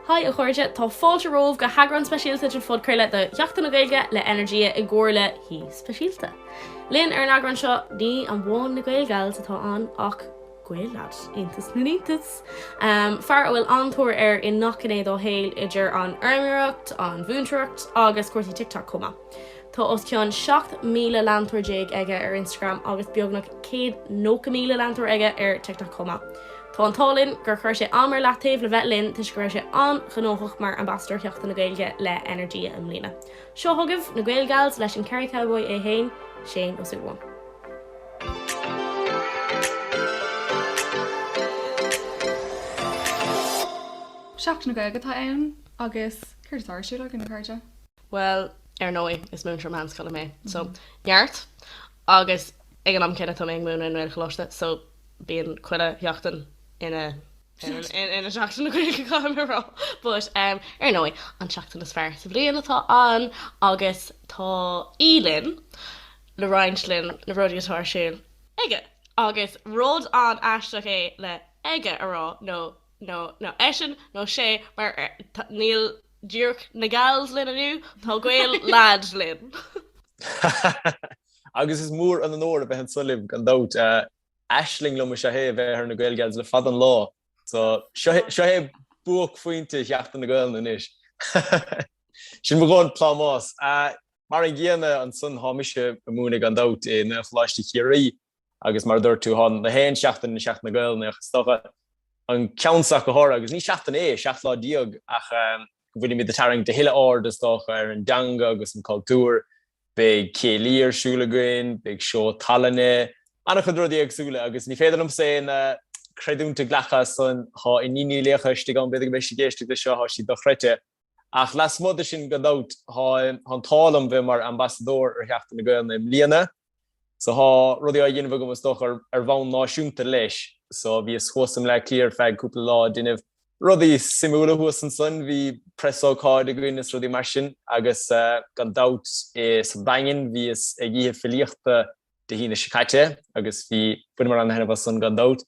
Haigh a chairde, tá fáilte romhaibh go heagrán speisialta den phodchraoladh do Sheachtain na Gaeilge le Energia i gcomhar le haoi speisialta linn ar an eagrán seo, ní amháin na Gaelgals atá ann ach Gael lad, iontas na n-iontas! fear a bhfuil an-tóir air i ngach gné dá shaol, idir an fheirmeoireacht, an mhúinteoireacht agus cúrsaí TikTok chomh maith. Tá os cionn 17 míle leantóir aige ar Instagram agus beagnach 190 míle leantóir aige ar TikTok chomh maith. Tá an t-ádh linn gur chuir sé am ar leataobh le bheith linn toisc go raibh sé an-ghnóthach mar Ambasadóir Sheachtain na Gaeilge le Energia i mbliana. Seo chugaibh na Gaelgals leis an Kerry Cowboy é fhéin, Séaghan Ó Súilleabháin. Seachtain na Gaeilge atá ann agus céard atá ar siúl againn, a chairde? Bhuel, ar ndóigh, is múinteoir meánscoile mé, so, neart. Agus ag an am céanna, tá mé ag múineadh i nGaelcholáiste, so, bíonn chuile sheachtain ina, ina sheachtain na Gaeilge, caithfidh mé a rá. But, ar ndóigh, an tseachtain is fearr sa bhliain atá ann agus tá aoi linn le roinnt linn na rudaí atá ar siúl aige. Agus rud an-aisteach é le 'aige' a rá nó. nó eisean nó sé, mar níl díreach na gals linn inniu, tá Gael lad linn. Agus is mór an onóir a bheith anso libh, gan dabht. Aisling liom is ea é a bheith ar na Gaelgals le fada an lá. So, seo é buaicphointe Sheachtain na Gaelainne anois. Sin mo dhóthain plámás. Mar an gcéanna ansan, thá mise ag múineadh, gan dabht, i nGaelcholáiste Chiarraí. Agus mar a dúirt tú, thá na haon seachtain ina Seachtain na Gaelainne ach is dócha, an ceann so ach go háirithe, agus ní seachtain é, seacht lá déag, ach go bhfuilimid ag tarraingt a thuilleadh aird, is dócha, ar an dteanga agus an cultúr. Beidh céilí ar siúl againn, beidh seó tallainne, an-chuid rudaí éagsúla, agus ní féidir liomsa aon chreidiúint a ghlacadh as san, thá Iníon Ní Laocha istigh ann, b'fhéidir go mbeidh sí ag éisteacht leis seo, thá sí dochreidte. Ach lasmuigh de sin, gan dabht, thá an t-ádh liom bheith mar ambasadóir ar Sheachtain na Gaelainne i mbliana. So thá rudaí á dhéanamh agam, is dócha, ar bhonn náisiúnta leis. So bhíos thuas i mBleá Cliath ar feadh cúpla lá ag déanamh rudaí suimiúla thuas ansan. Bhí preasócáid againn is rudaí mar sin. Agus gan dabht, insa Daingean, bhíos ag oíche filíochta Dé hAoine seo caite, agus bhí, bhaineamar an-taitneamh as san, gan dabht.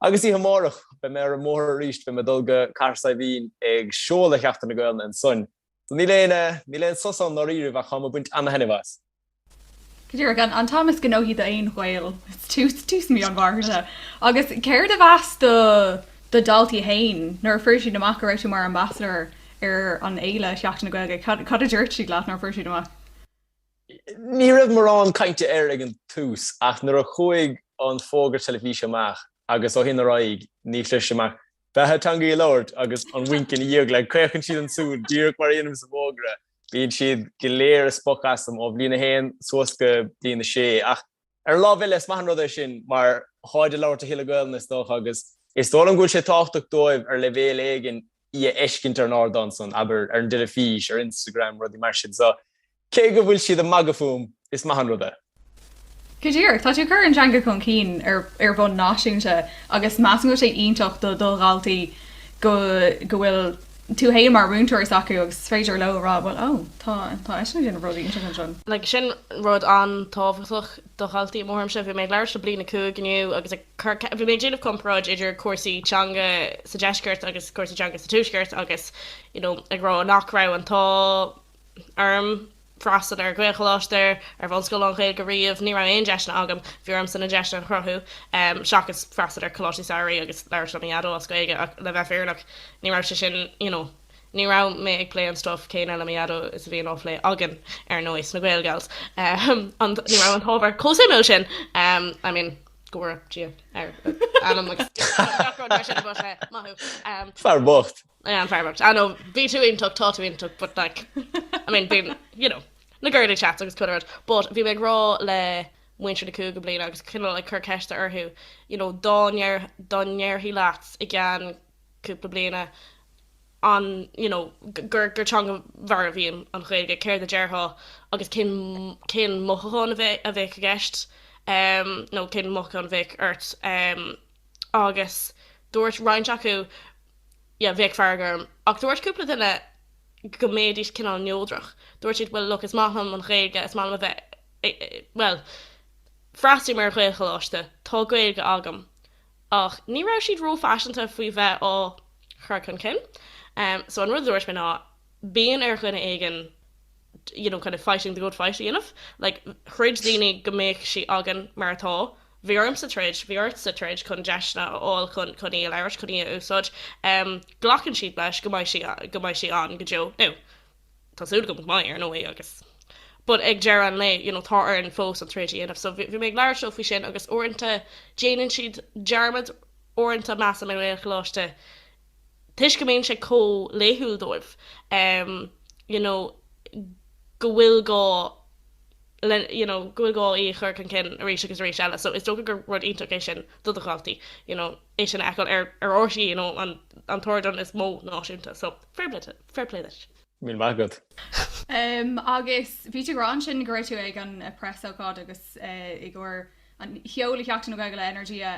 Agus oíche amárach, beidh mé ar an mbóthar arís, beidh mé ag dul go Cathair Saidhbhín ag seoladh Sheachtain na Gaelainne ansoin. So níl aon eh, níl aon sos ann i ndáiríribh ach táim ag baint ana-thaitneamh as. Go díreach, an t-am is gnóthaí d'aon Ghael, tús, tús mí an Mhárta. Agus céard a mheas do, do dhaltaí fhéin, nuair a fuair siad amach go raibh tú mar ambasadóir ar an fhéile Sheachtain na Gaeilge, cad, cad a dúirt siad leat nuair a fuair siad amach? Ní raibh mórán cainte air ag an tús ach nuair a chuaigh an fógra teilifíse amach agus ó shin ar aghaidh ní chloisim ach Beatha teanga í a labhairt agus an winc ina dhiaidh like caochann siad an tsúil díreach mar a dhéanaim sa bhfógra. Bíonn siad go léir ag spochadh asam ó bhliain a haon suas go bliain a sé ach Ar an lámh eile, is maith an rud é sin mar táid ag labhairt a thuilleadh Gaelainne, is dócha, agus is dóigh liom go bhfuil sé tábhachtach dóibh ar leibhéal éigin í a fheiscint ar an ardán san, abair, ar an dteilifís, ar Instagram, rudaí mar sin. So, cé go bhfuil siad ag magadh fúm, is maith an rud é. Go díreach. Tá tú ag cur an teanga chun cinn ar bhonn náisiúnta agus measaim go bhfuil sé iontach do dhaltaí go bhfuil tú fhéin mar mhúinteoir acu agus is féidir leo a rá, bhuel, ó, tá, tá eisean ag déanamh rudaí inteacht ansin. Like, sin rud an-tábhachtach do dhaltaí, i mo thuairimse. Bhí mé ag labhairt le bliain a cúig inniu agus ag cur, bhí mé ag déanamh comparáid idir cúrsaí teanga sa deisceart agus cúrsaí teanga sa tuaisceart agus, you know, ag rá nach raibh an t-ádh, orm freastal ar Ghaelcholáiste, ar bhunscoil lán-Ghaeilge riamh, ní raibh aon deiseanna agam, bhí ormsa na deiseanna a chruthú, seachas freastal ar choláistí samhraidh agus labhairt le mo Dhaideo as Gaeilge ach le bheith fírinneach ní raibh sé sin, you know, ní raibh mé ag plé an stuif céanna le mo Dhaideo is a bhíonn á phlé againn ar ndóigh sna Gaelgals ní raibh an t-ábhar chomh suimiúil sin, I mean go raibh Dia ar a anam Fear bocht! An fear bocht. I know, bhí tú iontach, tá tú iontach, but like, I mean, bíonn, you know, na girly chats agus chuile rud. But bhí mé ag rá le muintir na cúigiú bliana agus cineál like ag cur ceiste orthu, you know, dá ndeir, dá ndéarfaí leat i gceann cúpla bliain an, you know, gur, gur teanga mharbh í an Ghaeilge, céard a déarfá agus cén, cén mothúchán a bheith, a bheadh i gceist, ehm, nó cén mothúchán a bheadh ort, ehm, agus dúirt roinnt acu, Yeah, bheadh fearg orm. Ach dúirt cúpla duine go mbeidís cineál neodrach. Dúirt siad, Bhuel, look, is maith liom an Ghaeilge, is maith liom a bheith ag, bhuel, freastalaím ar Ghaelcholáiste, tá Gaeilge agam. Ach ní raibh siad ró-phaiseanta faoi bheith á chur chun cinn. So an rud a dúirt mé ná, Bíonn ar dhuine éigin. you know, kind of fighting the good fight a dhéanamh. Like, throid daoine go mbeadh sí againn mar atá. Bhí ormsa troid, bhí ortsa troid chun deiseanna a fháil chun, chun í a labhairt, chun í a úsáid. Em, glacann siad leis go mbeidh sí, go mbeidh sí ann go deo. Now, tá súil agam go mbeidh, ar ndóigh, agus, but ag deireadh an lae, you know, tá orainn fós an troid a dhéanamh. So bhí, bhí mé ag labhairt leo faoi sin agus uaireanta déanann siad dearmad, uaireanta measaim i nGaelcholáiste, toisc go mbíonn sé chomh laethúil dóibh you know go bhfuil gá le you know go bhfuil gá í a chur chun cinn arís agus arís eile so is dócha gur rud iontach é sin do do dhaltaí you know é sin a fheiceáil ar ar RTÉ you know an an t-ardán is mó náisiúnta so fair play duit. Míle maith agat. Agus bhí tú ag rá ansin go raibh tú ag an preasócáid agus i gcomhair An tseoladh Sheachtain na Gaeilge le Energia.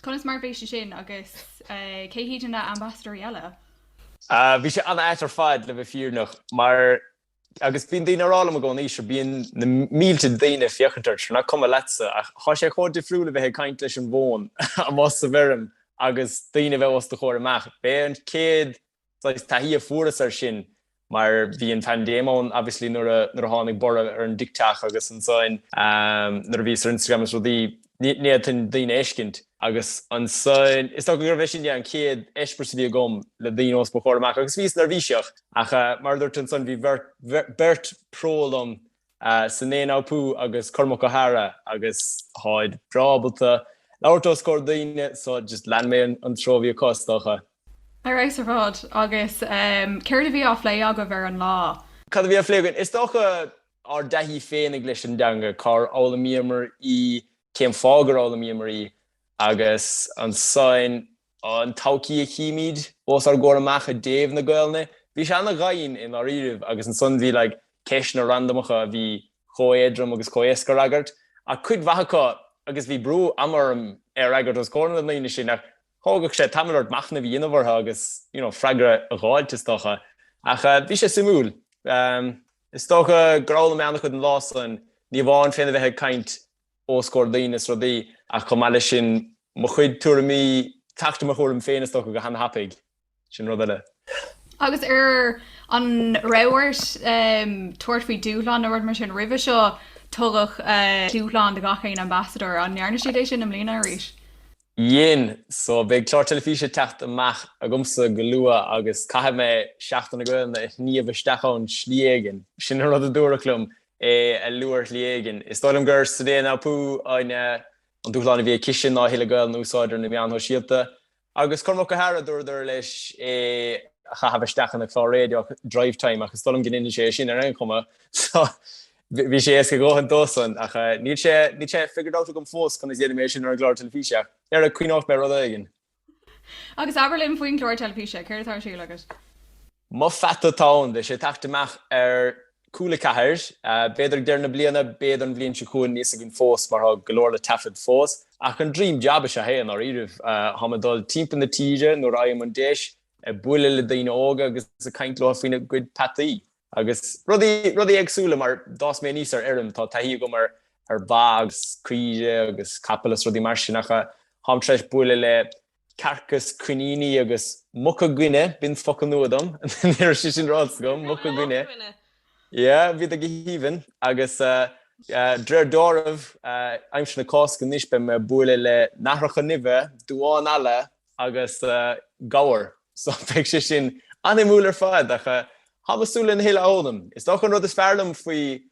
Conas mar a bhí sé sin agus cé hiad na ambasadóirí eile? Bhí sé an-ait ar fad le bheith fírinneach mar agus bíonn daoine ag rá liom i gcónaí sure bíonn na mílte de daoine ag féachaint ort sure nach cuma leatsa ach thá sé chomh difriúil a bheith ag caint leis an bhfón amuigh sa bhfeirm agus daoine a bheith os do chomhair amach. B'é an chéad saghas taithí a fuaireas air sin mar bhí an phaindéim ann obviously nuair a nuair a tháinig borradh ar an dTikTok agus ansoin nuair a bhíos ar Instagram is rudaí ní fhéadfainn daoine a fheiscint agus ansoin is dócha gurbh é sin é an chéad eispéireas a bhí agam le daoine os mo chomhair amach agus bhíos neirbhíseach ach mar a dúirt tú ansoin bhí beirt pro liom Sene Naoupu agus Cormac Ó hEadhra agus táid breá ábalta labhairt os comhair daoine so just lean mé an treo a bhí acu is dócha. Ar fheabhas ar fad. Agus céard a bhí á phlé agaibh ar an lá? Cad a bhí á phlé againn? Is dócha ár dtaithí féinig leis an dteanga, cár fhoghlaimíomar í, cén fáth gur fhoghlaimíomar í, agus ansan an todhchaí a chímid os ár gcomhair amach i dtaobh na Gaelainne. Bhí sé ana-dhoimhin i ndáiríribh, agus ansan bhí like ceisteanna randamacha a bhí chomh éadrom agus chomh éasca a fhreagairt, ach cuid mhaith acu, agus bhí brú ama orm é a fhreagairt os comhair na ndaoine sin, ach. Thógfadh sé tamall ort machnamh a dhéanamh orthu agus you know freagra a dh'fháilt, is dócha. Ach bhí sé suimiúil. Is dócha gur fhoghlaim mé ana-chuid an lá san, ní amháin féna bheith ag caint os comhair daoine is rudaí ach chomh maith leis sin mo chuid tuairimí, teacht ar mo thuairim féin is dócha go hana-thapaidh. Sin rud eile. Agus ar an raibh ort tabhairt faoi dúshlán nó rud mar sin roimhe seo? Tugadh dúshlán do gach aon ambasadóir. An ndearna siad é sin i mbliana arís? Dhein. So beidh clár teilifíse ag teacht amach agamsa go luath agus caithfidh mé Seachtain na Gaolainne a shníomh isteach ann slí éigin. Sin an rud a dúradh liom, é a lua ar shlí éigin. Is dóigh liom gur Sene Naoupu an dúshlán a bhí aici sin ná a thuilleadh Gaolainne a úsáid ar na meáin shóisialta. Agus Cormac Ó hEadhra, dúradar leis é a chaitheamh isteach ina chlár raidió Drivetime, ach is dóigh liom go ndeineann sé é sin ar aon chuma, so bhí sé éasca a dhóthain dósan. Ach níl sé, níl sé figured out agam fós conas a dhéanfaidh mé sin ar an gclár teilifíse, ach dhera, cuimhneoidh mé ar rud éigin. Agus abair linn faoin gclár teilifíse, céard atá ar siúl agat? Mo Pheata, tá, 's Beidh sé ag teacht amach ar Cúla Ceathair, b'fhéidir ag deireadh na bliana, b'fhéidir an bhliain seo chugainn, níl fhios againn fós mar tá go leor le taifead fós. Ach an dream jab is ea é i ndáiríribh. Táim ag dul timpeall na tíre nuair a fhaighim an deis, ag bualadh le daoine óga agus ag caint leo faoina gcuid peataí. Agus rudaí, rudaí éagsúla mar d'fhás mé aníos ar fheirm, tá taithí agam ar ar bha agus caoire agus capaill is rudaí mar sin ach táim tar éis bualadh le cearca is coiníní agus muca guine, b'in focal nua dom, ní raibh sé sin ráite agam, muca guine, yeah, bhíodar go haoibhinn agus d'réir dealraimh aimsir na Cásca anois beidh mé a' bualadh le nathracha nimhe, duáin alla agus gabhair so beidh sé sin suimiúil ar fad ach tá mé súil lena thuilleadh a fhoghlaim. Is dócha an rud is fearr liom faoi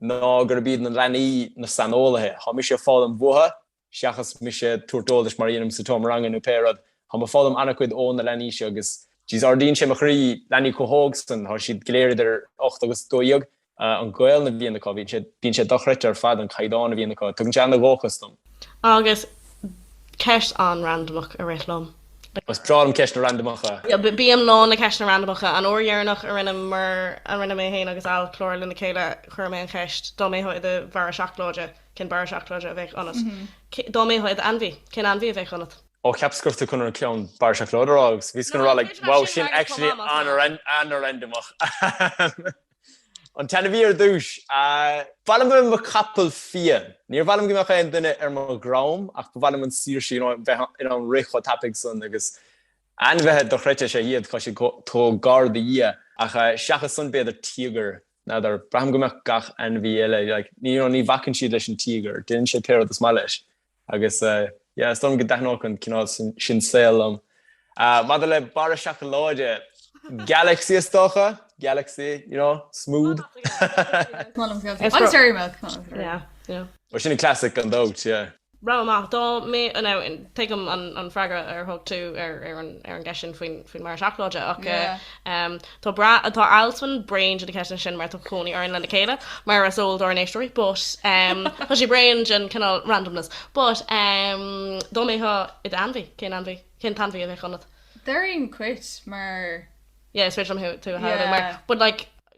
ná gurb iad na leanaí na saineolaithe, tá mise a' foghlaim uathu seachas mise ag tabhairt eolais mar a dhéanaim sa tseomra ranga nó pé rud, tá mé ag foghlaim an-chuid ó na leanaí seo agus jeez, ardaíonn sé mo chroí, leanaí chomh hóg san, tá siad go léir idir ocht agus a dó dhéag, an Ghaelainn a bhíonn acu, bíonn sé dochreidte ar fad an caighdeán a bhíonn acu, tugann sé ana-dhóchas dom. Agus ceist an-randamach a rith liom. Is breá liom ceisteanna randamacha. Bím lán le ceisteanna randamacha. An uair dheireanach a rinne mé féin agus Al clár le chéile chuir mé an cheist dá mbeifeá i do Bharra Seacláide, Cén barra seacláide a bheadh ionat? Dá mbeifeá i d'ainmhí, cén ainmhí a bheadh ionat? Ó, cheap scata acu chun an ceann barra seacláide a rá agus bhí scata a rá like wow sin actually an-randomach. An t-ainmhí ar dtúis, ba mhaith liom a bheith i mo chapall fiáin. Níor mhaith liom go mbeadh aon duine ar mo dhroim ach ba mhaith liom an saoirse you know bheith in ann rith chomh tapaidh san agus ainmhithe dochreidte is ea iad tá sé chomh gar do Dhia ach seachas san b'fhéidir tíogar N'fheadar. Braithim go mbeadh gach ainmhí eile, like, you know, ní bhacann siad leis an tíogar, déanann sé pé rud is maith leis. Agus, yeah, is dóigh liom go dtaitneodh an cineál sin saol liom. Maidir le barra seacláide, Galaxy is dócha? Galaxy, you know, smooth. Molaim go. An Dairy Milk. Yeah, yeah. Well, sin an classic ar ndóigh, yeah. Randamach, dá mbeifeá, tuigim an freagra a thug tú ar an gceist sin faoin mbarra seacláide, ach tá brath, tá Alswyn bréan de na ceisteanna sin mar tá cónaí orainn lena chéile, mar is eol dár n-éisteoirí, but tá sé bréan den chineál randomness. But dá mbeifeá i d'ainmhí, cén ainmhí, cén t-ainmhí a bheadh ionat? Deirim cat, mar. Yeah, is féidir liom tú a shamhlú, mar, but like.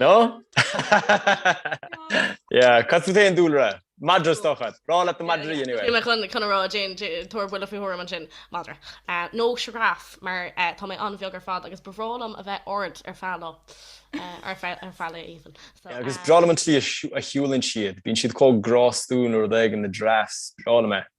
No? Yeah, cos tá tú aon dúlra? Madra is dócha. Breá leat na madraí anyway. Bhí mé chun chun rá déan tabhair buille faoi thuairim an sin madra. Nó giraffe mar tá mé an-bheag ar fad agus ba bhreá liom a bheith ard ar feadh lae. Ar feadh lae even. Agus breá liom an tslí a shiúlann siad. Bíonn siad chomh grástúil nó rud éigin, na giraffes. Breá liom é.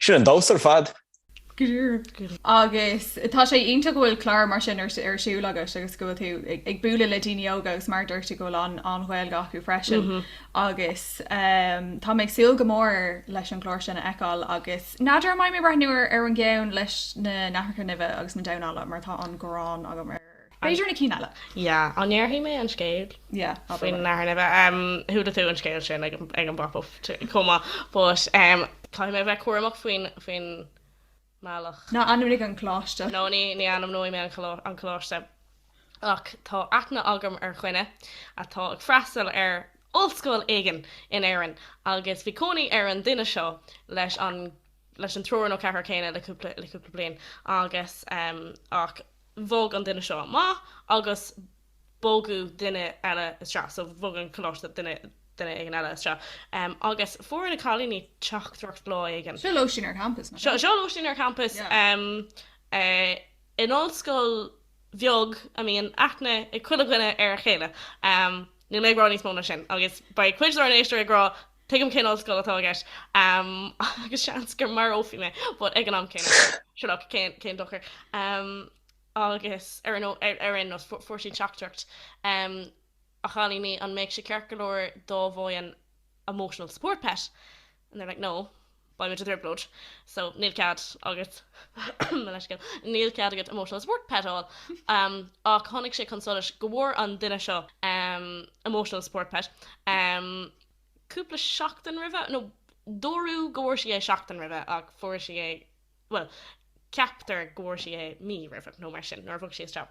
Sin an-deas ar fad. Agus tá sé iontach go bhfuil clár mar sin ar siúl agus agus go bhfuil tú ag bualadh le daoine óga agus mar a dúirt tú go bhfuil an Ghaeilge acu freisin agus ehm, tá mé ag súil go mór leis an chlár sin a fheiceáil agus n'fheadar an mbeidh mé ag breathnú ar an gceann leis na nathracha nimhe agus na damháin alla mar tá an ghráin agam ar B'fhéidir na cinn eile. Yeah, an ndéarfaidh mé an scéal? Yeah, abair. Faoin nathair nimhe. Em, chuala tú an scéal sin ag, ag an bPop Up chomh maith, but em, caithfidh mé a bheith cúramach faoin, faoin mbealach. Ná ainmnigh an coláiste. No, ní, ní ainmneoidh mé an, an coláiste. Ach tá aithne agam ar dhuine atá ag freastal ar ollscoil éigin in Éirinn agus bhí cónaí ar an duine seo leis an, leis an triúr nó ceathrar céanna le cúpla, le cúpla bliain agus em, ach. bhog an duine seo amach agus bogadh duine eile isteach so bhog an coláiste duine, duine éigin eile isteach em agus fuair na cailíní teachtaireacht lá éigin. Seo lóistín ar champas, mar seo, seo lóistín ar champas yeah em eh in ollscoil bheag a mbíonn aithne ag chuile dhuine ar a chéile em níl mé ag rá níos mó ná sin agus beidh cuid dár n-éisteoirí ag rá Tuigim cén ollscoil atá agat agus seans gur marófaí mé, but ag an am céanna, sure cén dochar. Agus ar aon nós, fuair siad teachtaireacht A chailíní, an mbeadh sé ceart go leor dá bhfaighinn emotional support pet? And they're like, no. Beidh muid i dtrioblóid so níl cead agat, mo leithscéal, níl cead agat emotional support pet a fháil. Ach tháinig sé chun solais go bhfuair an duine seo emotional support pet cúpla seachtain roimhe, nó dúradh go bhfuair sí é seachtain roimhe ach fuair sí é, bhuel, ceaptar go bhfuair sí é mí roimhe nó mar sin, nuair a bhog sí isteach.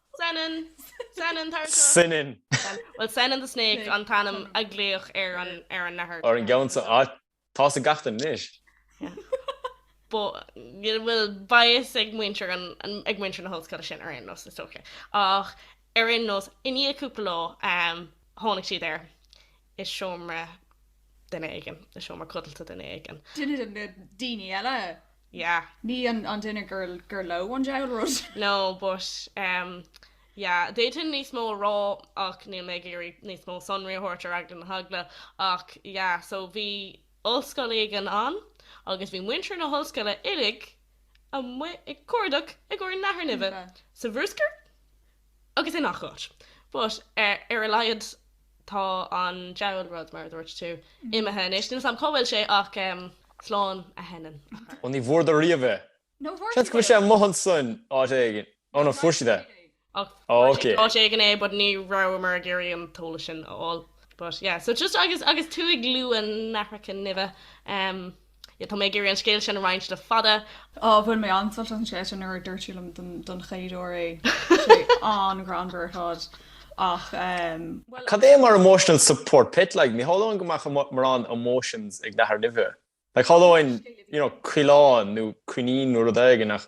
Senan! Senan, tar anseo! Senan! Bhuel, Senan the Snake an t-ainm a glaodh ar an nathair. Ar an gceann san áit. Tá's ag gach duine anois. Bhuel, bhuel, beidh a fhios ag muintir an, ag muintir na hollscoile sin ar aon nós, is dócha. Ach ar aon nós, i ndiaidh cúpla lá, tháinig siad air, i seomra duine éigin, i seomra codlata duine éigin. Duine de na daoine eile! yeah. Ní an duine gur leo an diabhal rud. No, but ehm yeah, d'fhéadfainn níos mó a rá ach níl mé ag iarraidh níos mó sonraí a thabhairt ar eagla na heagla ach yeah so bhí ollscoil éigin ann agus bhí muintir na hollscoile uilig amuigh ag cuardach i gcomhair nathair nimhe sa bhrúscar. Agus i ngach áit. But ar a laghad tá an diabhal rud, mar a dúirt tú, imithe anois. Níl 'fhios a'm cá bhfuil sé ach slán a Shenan a chara. Ó ní bhfuaireadar riamh é. Seans go bhfuil sé amuigh ansin áit éigin. Ó no, fuair siad é. Ach fuair siad áit éigin é but ní rabhamar ag iarraidh an t-eolas sin a fháil. But yeah, so just agus tú ag lua na nathracha nimhe. Ie, tá mé ag iarraidh an scéal sin a roinnt le fada. Ó, bhain mé an-sult as an scéal sin nuair a dúirt sí liom don chéad uair é. Tá sé an-ghreannmhar ar fad ach em. Cad é mar emotional support pet like? Ní shamhlóinn go mbeadh morán emotions ag nathair nimhe. Like shamhlóinn, you know, coileán nó coinín nó rud éigin ach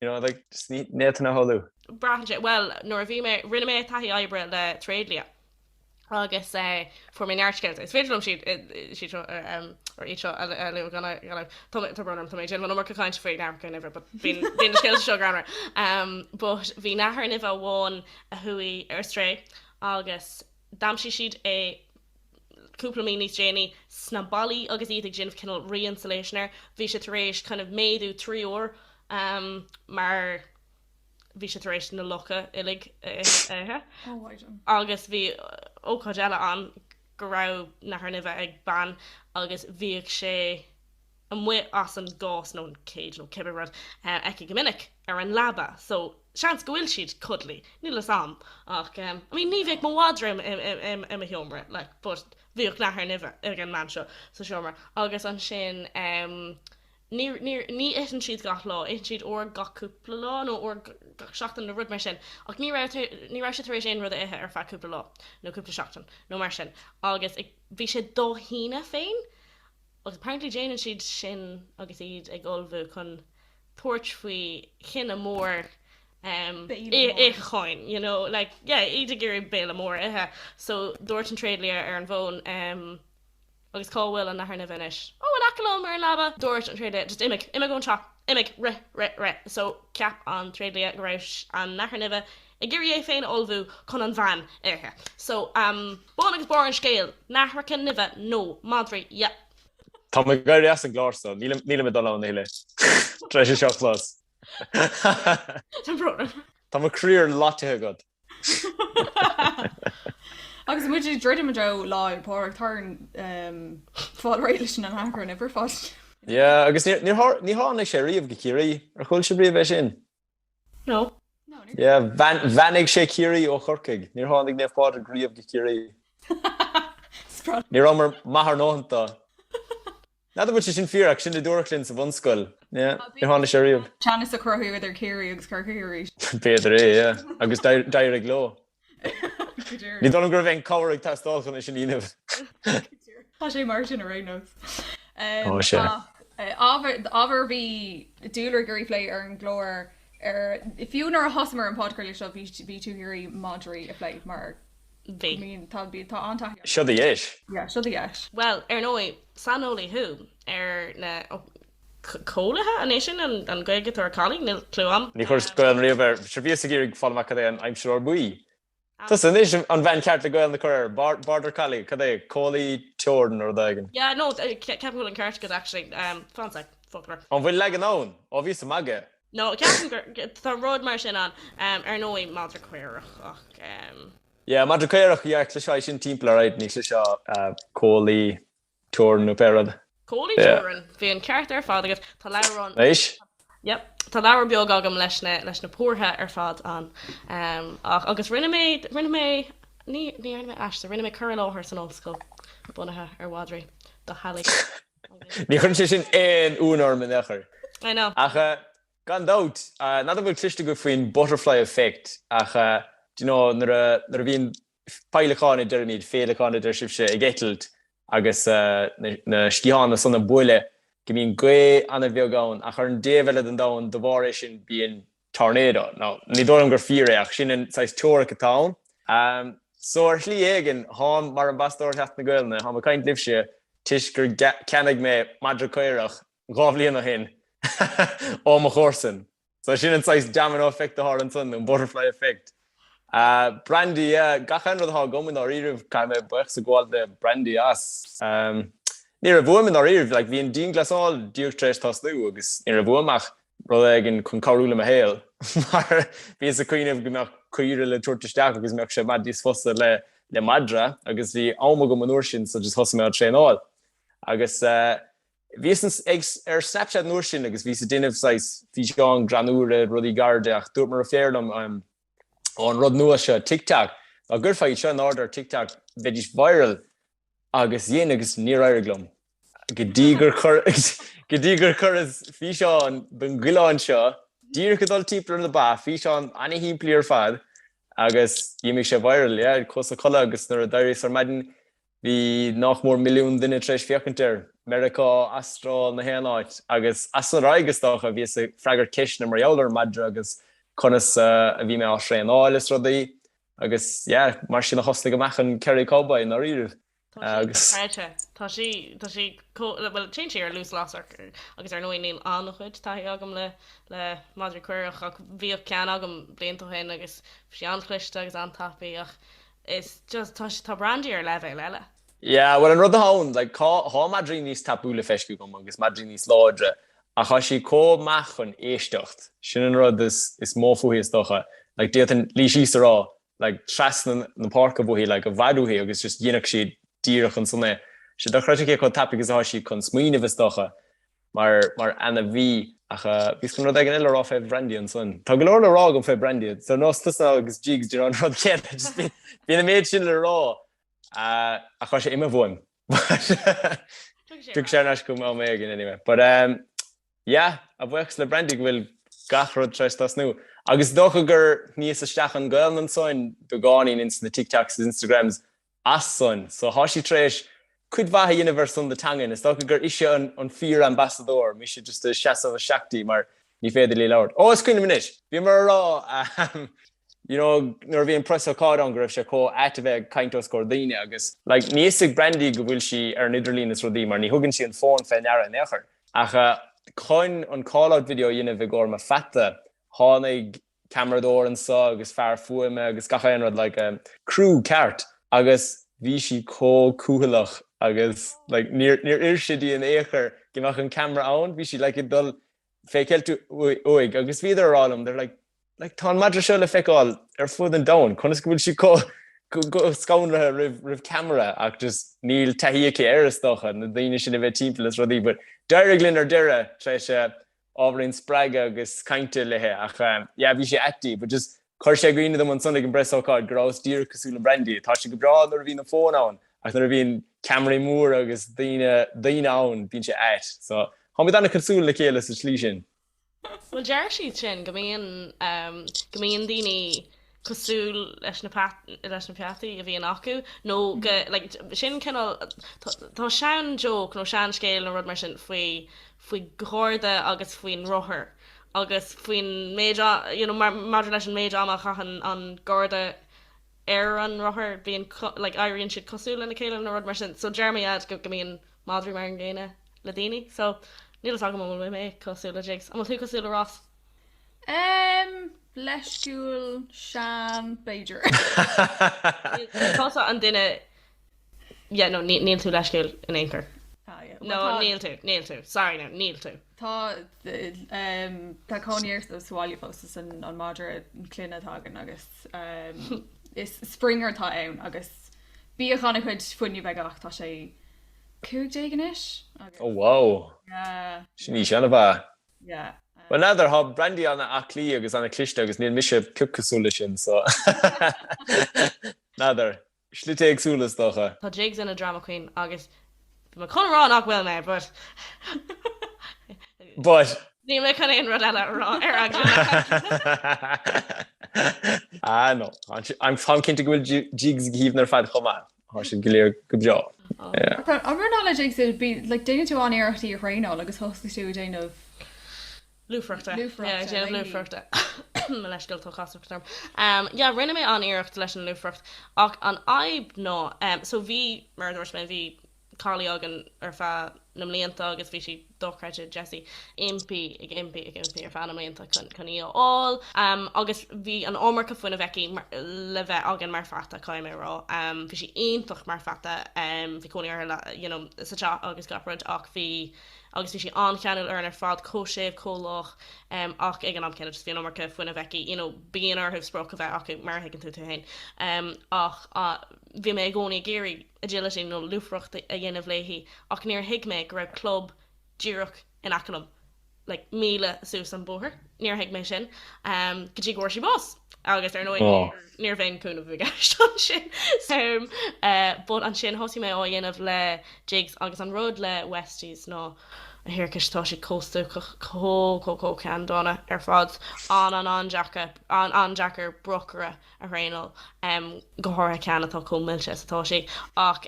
You know, like, just ní, iad ina shamhlú. Braitheann sé, bhuel, nuair a bhí mé, rinne mé taithí oibre le tréidlia agus fuair mé neart scéalta. Is féidir liom siad, siad seo, or iad seo, a lua gan ainm. Tá, tá brón orm, tá mé ag déanamh an iomarca cainte faoi nathracha nimhe, but bíonn, bíonn na scéalta seo greannmhar. But bhí nathair nimhe amháin a chuaigh ar strae agus d'aimsigh siad é, cúpla mí níos déanaí, sna ballaí agus iad ag déanamh cineál re-insulation air. Bhí sé tar éis kind of méadú trí uair mar bhí sé tar éis na lucha uilig a ithe. Agus bhí ócáid eile ann go raibh nathair nimhe ag bean agus bhíodh sé. amuigh as an gcás, nó an cage nó cibé rud, aici go minic, ar an leaba, so seans go bhfuil siad cuddly, níl 'fhios a'm, ach em, I mean ní bheadh mo mhadra i mo sheomra, like but bhíodh nathair nimhe ag an mbean seo sa seomra agus ansin em ní, ní, ní itheann siad gach lá, itheann siad uair gach cúpla lá nó uair gach seachtain nó rud mar sin ach ní raibh, ní raibh sé tar éis aon rud a ithe ar feadh cúpla lá nó cúpla seachtain nó mar sin agus ag, bhí sé dá shíneadh féin, Agus apparently déanann siad sin agus iad ag ullmhú chun tabhairt faoi chineál mór um itheacháin, you know, like, yeah, iad ag iarraidh béile mór a ithe. So dúirt an tréidlia ar an bhfón um Agus cá bhfuil an Nathair Nimhe anois? Oh, in aice liom ar an leaba! Dúirt an tréidlia, just imigh, imigh ón teach, imigh, rith, rith, rith. So cheap an tréidlia go raibh an Nathair Nimhe Ag iarraidh é féin a ullmhú chun an bhean a ithe. So, um, bun agus barr an scéil, nathracha nimhe nó madraí, yep. Tá mé ag éirí as an gclár so nílim, nílim ag dul a chodladh tar éis é seo a chlos. Tá an prógram. Tá mo chroí ar loitithe agat. Agus muid ag druidim i dtreo Lá Fhéile Pádraig, tar éis fáil réidh leis na nathracha nimhe ar fad. Yeah, agus níor, níor tháinig sé riamh go Ciarraí. Ar chuala sibh riamh é sin? No. Bheannaigh sé Ciarraí ó Chorcaigh. Níor tháinig Naomh Pádraig riamh go Ciarraí. Ní rabhamar maith ár ndóthain dó. N'fheadar bhfuil sé sin fíor ach sin a dúradh linn sa bhunscoil. Níor tháinig sé riamh. Teannas a cruthú idir Ciarraí agus Corcaigh arís. B'fhéidir é, agus d'éirigh leo. Ní dóigh liom go raibh aon chabhair ag teastáil chun é sin a dhéanamh. Tá sé mar sin ar aon nós. Tá sé. Ábhar a bhí tú ag iarraidh a phlé ar an gclár, fiú nuair a thosaíomar an podchraoladh seo, bhí tú ag iarraidh madraí a phlé mar Bhí. tá an-taithí orm. Seo do dheis. Yeah, seo do dheis. Bhuel, ar ndóigh, saineolaí thú ar na. coilithe? An é sin an Ghaeilge atá ar collie? Níl clue agam. Ní chuireas Gaolainn riamh air. Sea, bhíos ag iarraidh fáil amach cad é an aimsitheoir buí. Tusa anois an bhean cheart le Gaolainn a chur air. Border collie, cad é, coilí teorann nó rud éigin. Yeah, no, ceapaim go bhfuil an ceart agat actually. Fancy fucker. An bhfuil leagan ann? Ó, bhíos ag magadh. No, ceapaim gur, tá rud mar sin ann, ar ndóigh, madra caorach ach. Yeah, madra caorach, yeah, chloisfeá é sin timpeall, alright, ní chloisfeá coilí. teorainn nó pé rud. Coilí teorann, bhí an ceart ar fad agat. Tá leabhar ann. Anois? Yep. Tá leabhar beag agam leis na, leis na pórtha ar fad ann. Ehm, ach, agus rinne mé, rinne mé, ní, ní dhearna mé aiste, rinne mé cur i láthair san ollscoil bunaithe ar mhadraí. Do theaghlaigh. Ní chuireann sé sin aon ionadh orm in aon chor. I know. Ach eh, gan dabht, n'fheadar an bhfuil cloiste agaibh faoin butterfly effect ach eh, d'you know, nuair a, nuair a bhíonn, Peidhleacán a deirimid, féileacán a deir sibhse, ag eitilt agus na sciathána san ag bualadh go mbíonn gaoth an-bheag ann ach ar an dtaobh eile den domhan de bharr é sin bíonn tornado. Now ní dóigh liom gur fíor é ach sin an saghas teoiric atá ann. So ar shlí éigin, tháim mar ambasadóir Sheachtain na Gaolainne, tháim ag caint libhse toisc gur cheannaigh mé madra caorach dhá bhliain ó shin ó mo chomharsan. So sin an saghas domino effect a tharla ansan, nó an butterfly effect. Brandy, yeah, gach aon rud atá agam i ndáiríribh, caithfidh mé baochas a ghabháil le Brandy as. Ní raibh uaim i ndáiríribh, like, bhí an dianghlasáil díreach tar éis tosnú agus ní raibh uaim ach rud éigin chun cabhrú le mo shaol, mar bhíos ag cuimhneamh go mbeadh caoire le tabhairt isteach agus mbeadh sé i bhfad níos fusa le le madra, agus bhí am agam an uair sin so just thosaigh mé á traenáil. Agus, Bhíos ar Snapchat an uair sin agus bhíos ag déanamh saghas físeáin ghreannúra, rudaí gairide, ach dúirt mo dheirfiúr liom, Ó an rud nua seo, TikTok, dá gcuirfeá iad seo in airde ar TikTok, bheidís viral! Agus dhein agus níor éirigh liom. Go dtí gur chuir, go dtí gur chuireas físeán den choileán seo díreach ag dul timpeall ar na ba, físeán ana-shimplí ar fad, agus d'imigh sé viral, yeah, chuas a chodladh agus nuair a d'éiríos ar maidin, Bhí nach mór milliún duine tar éis féachaint air, Meiriceá, Astráil, na haon áit, agus as san ar aghaidh, is dócha, a bhíos ag freagairt ceisteanna mar gheall ar an madra agus conas a bhí mé á thraenáil is rudaí. Agus, yeah, mar sin a thosnaigh amach an Kerry Cowboy, i ndáiríre. Tá sí téann sí ar luas lasrach, agus ar ndóigh níl an-chuid taithí agam le madraí caorach, ach bhíodh ceann agam blianta ó shin agus bhí sé an-chliste agus an-tapaidh. Is just, tá, tá Brandy ar leibhéal eile. Yeah, bhuel an rud atá ann, like tá, tá madraí níos tapúla feiscithe agam agus madraí níos láidre ach tá sí comh maith chun éisteacht, sin an rud is, is mó fúithi is dócha. Like d'fhéadfainn luí síos a rá like trasna na páirce uaithi like i bhfad uaithi agus just dhéanfadh sí díreach ansan é. Tá sé dochreidte cé chomh tapaidh is atá sí chun smaoineamh is dócha. mar, mar ainmhí, ach bhíos chun rud éigin eile a rá fé Bhrandy ansan. Tá go leor le rá agam fé Brandy, so nós tusa agus Jigs de an rud céanna, just bíonn, bíonn an méid sin le rá, ach tá sé imithe uaim. Tiocfaidh sé thar n-ais chugam am éigin anyway. But ehm, yeah, a bhuíochas le Brandy go bhfuil gach rud tar éis tosnú. Agus is dócha gur shníos isteach an Gaolainn ansoin, beagáinín ins na TikToks is Instagrams, as san. So thá sí tar éis cuid mhaith a dhéanamh ar son na teangan. Is dócha gur ise an fíor ambasadóir, mise just ag seasamh isteach di mar ní féidir leí labhairt. Ó, is cuimhin liom anois, bhíomar a rá ahem you know nuair a bhí an preasócáid ann go raibh sé comh ait a bheith ag caint os comhair daoine agus like níl a fhios ag Brandy go bhfuil sí ar an idirlíon is rudaí mar ní thugann sí an fón fé ndeara in aon chor. Ach chun an call-out video a dhéanamh i gcomhair mo pheata tháinig ceamaradóir anso agus fear fuaime agus gach aon rud, like criú ceart agus bhí sí chomh cúthaileach agus like níor, níor oir sé di in ao'chor go mbeadh an ceamara ann, bhí sí like ag dul fé cheilt uaidh agus bhíodar a' rá liom, they're like, like tá an madra seo le feiceáil ar fud an domhain, conas go bhfuil sí chomh, chomh scanraithe roimh, roimh ceamara ach just níl taithí aici air is dócha, na daoine sin a bheith timpeall is rudaí but d'éirigh linn ar deireadh, tar éis eh, ábhairín spreagadh agus cainte léi ach yeah bhí sé ait di but just chuir sé i gcuimhne dom ansan ag an bpreasócáid go rabhas díreach cosúil le Brandy tá sé go breá nuair a bhíonn an fón ann ach nuair a bhíonn ceamaraí móra agus daoine daoine ann bíonn sé ait so táimid ana cosúil le chéile sa tslí sin. Bhuel deir siad sin go mbíonn go mbíonn daoine cosúil leis na peataí a bhíonn acu nó go sin cineál tá sean joke nó sean scéal nó rud mar sin faoi faoi gharda agus faoin rothar agus faoin méid you know maidir leis an méid ama a chaitheann an garda ar an rothar bíonn like éiríonn siad cosúil lena chéile nó rud mar sin so deir siad go go mbíonn madraí mar an gcéanna le daoine so níl a fhios agam an bhfuil mé cosúil le Jigs an bhfuil tú cosúil le Ross? Ehm, leisciúil, sean, b'fhéidir. Tá sé ar an duine, yeah, no, níl tú leisciúil in aon chor. Ah, yeah, well, No, tá- níl tú, níl tú, sorry now, níl tú. Tá, ehm, tá cónaí air sa bhaile fós, 's an an madra clainne atá againn agus, ehm, is Springer atá ann agus bhíodh an-chuid fuinnimh aige ach tá sé cúig déag anois agus, Oh wow! yeah, Sin aois mhaith? Bhuel, n'fheadar, thá Brandy ana aclaí agus ana cliste agus níl mise pioc cosúil le sin so n'fheadar. Slite éagsúla is dócha. Tá jigs ina drama queen agus bhí mé chun a rá nach bhfuil mé but. But. Níl mé chun aon rud eile a rá ar an gclár. Ah no, táim cinnte go bhfuil jigs go haoibhinn ar fad chomh maith. Tá siad go léir go breá. An raibh, maidir le jigs, bhí, like, déanann tú an-iarracht í a thraenáil agus thosaigh tú ag déanamh. Lúfaireachta. Lúfaireachta, Yeah, ag déanamh maybe. lúfaireachta. Mo leithscéal, tá casachtach orm. Um, yeah, rinne mé an-iarracht leis an lúfaireacht ach an fhadhb ná, um, so bhí, mar a dúirt mé, bhí collie againn ar feadh na mblianta agus bhí sí, dochreidte Jesse, impí ag impí ag impí ar feadh na mblianta chun í a fháil, agus bhí an iomarca fuinnimh aici le bheith againn mar pheata, caithfidh mé a rá. Bhí sí iontach mar pheata, bhí cónaí uirthi you know sa teach agus gach rud, ach bhí, agus bhí sí an-cheanúil orainn ar fad, chomh séimh, chomh lách, ach ag an am céanna just bhí an iomarca fuinnimh aici, you know bíonn orthu sprioc a bheith acu, mar a thuigeann tú tú fhéin, ach Bhí mé i gcónaí ag iarraidh agility nó lúfaireacht a dhéanamh léi ach níor thuig mé go raibh club díreach in aice liom, like míle suas an bóthar. Níor thuig mé sin go dtí go bhfuair sí bás agus ar ndóigh ní raibh aon chúnamh i gceist ansin. So, but ansin thosaigh mé á dhéanamh le jigs agus an rud le Westies ná a thiarcais, tá sí chomh stuacach, chomh, chomh, chomh ceanndána ar fad, an-an-an-deacair, an-an-deacair brocaire. a thraenáil, go háirithe ceann atá chomh millte is atá sí. Ach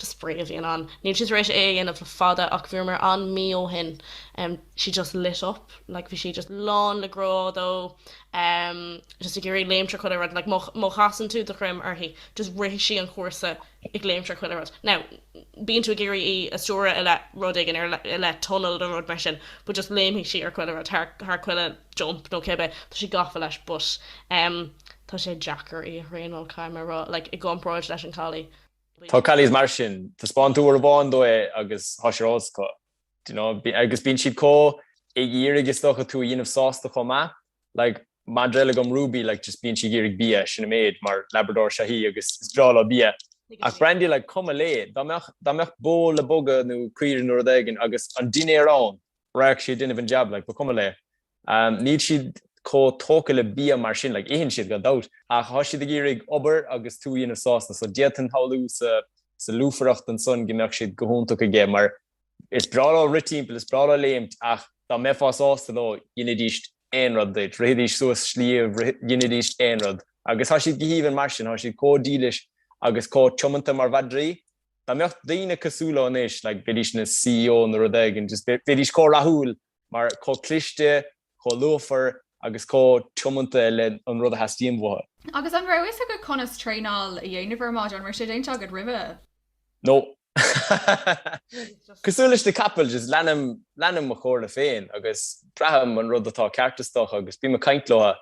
just spraoi a bhíonn ann. Níl sí tar éis é a dhéanamh le fada ach bhíomar ann mí ó shin. She just lit up, like bhí sí just lán le grá dó, just ag iarraidh léimt thar chuile rud, like má chasann tú do dhroim uirthi, just rithfidh sí an cúrsa. ag léimt thar chuile rud. Now, bíonn tú ag iarraidh í a stiúradh i leith rud éigin, ar i leith tunnel nó rud mar sin but just léimfidh sí ar chuile rud, thar, thar chuile jump nó cibé, tá sí gafa leis but ehm tá sé deacair í a thraenáil caithfidh mé a rá, like i gcomparáid leis an collie. Tá collies mar sin, taispeánann tú uair amháin dóibh é agus tá sé acu, do you know agus bíonn siad chomh ag iarraidh is dócha tú a dhéanamh sásta chomh maith Like madra eile agam Ruby like just bíonn sí ag iarraidh bia, sin an méid, mar Labrador is ea í agus is breá leo bia. Ach Brandy like ba chuma léi, dá mbeadh, dá mbeadh bó le bogadh nó caoirigh nó rud éigin agus an dinnéar ann, raghadh sí ag déanamh an jab like ba chuma léi. Níl siad chomh tógtha le bia mar sin, like itheann siad gan dabht, ach tá siad ag iarraidh obair agus tú a dhéanamh sásta, so d'fhéadfainn a shamhlú sa, sa lúfaireacht ansan go mbeadh siad go hiontach aige, mar Is breá leo rith timpeall, is breá leo léimt, ach dá mbeifeá sásta leo, dhéanfaidís aon rud duit, rithfidís suas sliabh, dhéanfaidís aon rud. Agus tá siad go haoibhinn mar sin, tá siad chomh dílis agus chomh tiomanta mar mhadraí. Dá mbeadh daoine cosúil leo anois, like, bheidís ina CEO nó rud éigin, just bheidís chomh rathúil mar chomh cliste, chomh lúfar agus chomh tiomanta le an rud a theastaíonn uathu. Agus an raibh a fhios agat conas traenáil a dhéanamh ar an madra, an raibh sé déanta agat roimhe? No. Cosúil leis na capaill, just leanaim, leanaim mo chomhairle féin agus braithim an rud atá ceart is dócha agus bím ag caint leo